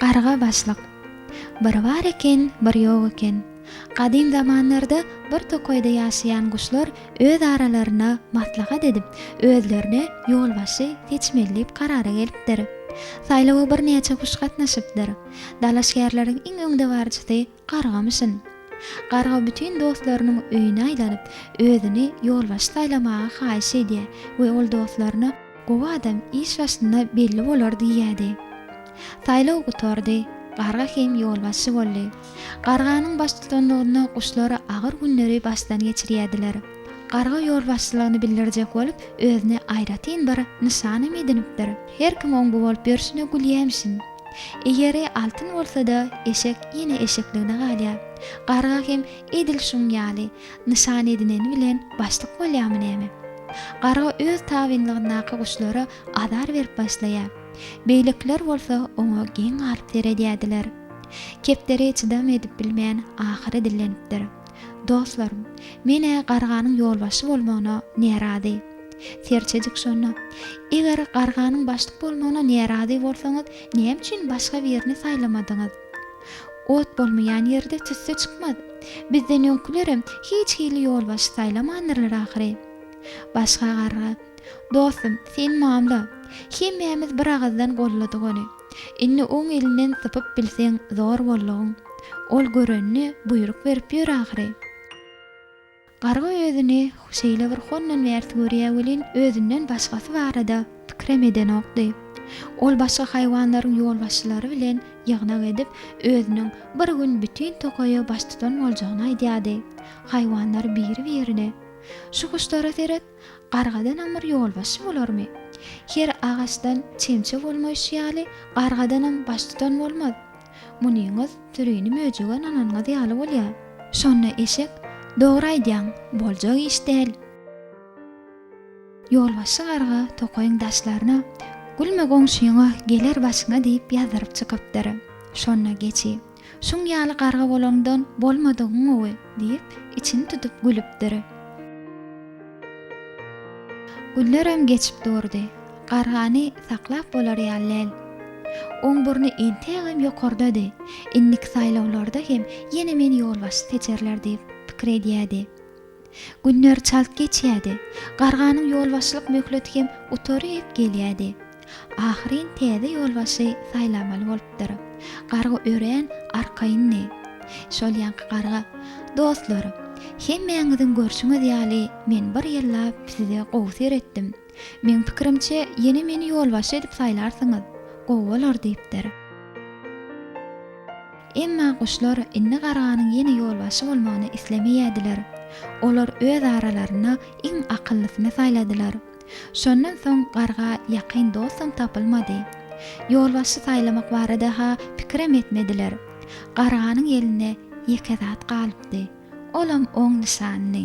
Garga başlyk. Bir bar eken, bir ýok eken. Gadym zamanlarda bir tokaýda ýaşaýan guşlar öz aralaryna maslahat edip, özlerine ýolbaşçy seçmelidip karara gelipdir. Saýlawa birnäçe guş gatnaşypdyr. Dalaşgärleriň iň öňdebaryjysy Gargamyşyn. Garga bütin dostlarynyň öýüne aýlanyp, özüni ýolbaşçy saýlamagy haýyş edýär we ol dostlaryna Gowy adam iş başynda belli bolar diýýärdi. Saýlaw gutardy. Garga hem ýolbaşçy boldy. Garganyň baştutanlygynda guşlar agyr günleri başdan geçirýärdiler. Garga ýolbaşçylygyny bildirjek bolup, özüne aýratyn bir nyşanam edinipdir. Her kim oň bu bolup ýörşüne gülýämişin. Eýeri altyn bolsa-da, eşek ýene eşekligine galýar. Garga hem edil şuň ýaly, nyşan edineni bilen başlyk bolýarmy näme? Garga öz tabynlygyndaky guşlara azar berip başlaýar. Beýlekiler bolsa oňa geň galyp seredýärdiler. Kepderi çydam edip bilmän, ahyry dillenipdir. Dostlarym, men-ä garganyň ýolbaşçy bolmagyna närazy. Serçejik şonda, Eger garganyň başlyk bolmagyna närazy bolsaňyz, näme üçin başga birini saýlamadyňyz? Ot bolmaýan ýerde tüsse çykmaz. Bizden öňkülerem hiç hili ýolbaşçy saýlamandyrlar ahyry. Başga garga, Dostum, sen mamla. Hemmämiz bir agyzdan golladyk ony. Indi oň elinden sypyp bilseň zor boldugyň. Ol görenine buýruk berip ýör ahyry. Garga özüni şeýle bir hondan bärsi görýä welin özünden başgasy barada pikirem edenokdy. Ol başga haýwanlaryň ýolbaşçylary bilen ýygnak edip özüniň bir gün bütin tokaýa baştutan boljagyny aýdýady. Haýwanlar biri birine, Şu guşlara seret, Gargadanam bir ýolbaşçy bolarmy? Her agaçdan çemçe bolmaýşy ýaly, gargadanam baştutan bolmaz. Munyňyz sürini möjege nananyňyz ýaly bolýar. Şonda eşek, Dogry aýdýaň, boljak iş däl. Ýolbaşçy garga tokaýyň daşlaryna, Gülme goňşyňa, geler başyňa diýip ýazdyryp çykypdyr. Şonda geçi. Şuň ýaly garga bolaňdan bolmadygyň gowy, diýip, içini tutup gülüpdir. Günlerem geçip durdy. Gargany saklap bolar ýaly däl. Oň burny entegem ýokardady. Indiki saýlawlarda hem ýene meni ýolbaşçy seçerler diýip, pikir edýärdi. Günler çalt geçýärdi. Garganyň ýolbaşçylyk möhleti hem gutaryp gelýärdi. Ahyryn täze ýolbaşçy saýlamaly bolupdyr. Garga örän arkaýyndy. Şol ýaňky garga, Dostlar, hemmäňiziň görşüňiz ýaly, men bir ýyllap size gowy seretdim. Meň pikirimçe, ýene meni ýolbaşçy edip saýlarsyňyz, gowy bolar, diýipdir. Emma guşlar indi garganyň ýene ýolbaşçy bolmagyny islemeýärdiler. Olar öz aralarynda iň akyllysyny saýladylar. Şondan soň garga ýakyn dostam tapylmady. Ýolbaşçy saýlamak barada-ha pikirem etmediler. Garganyň elinde ýeke zat galypdy. Olam oň nyşanydy.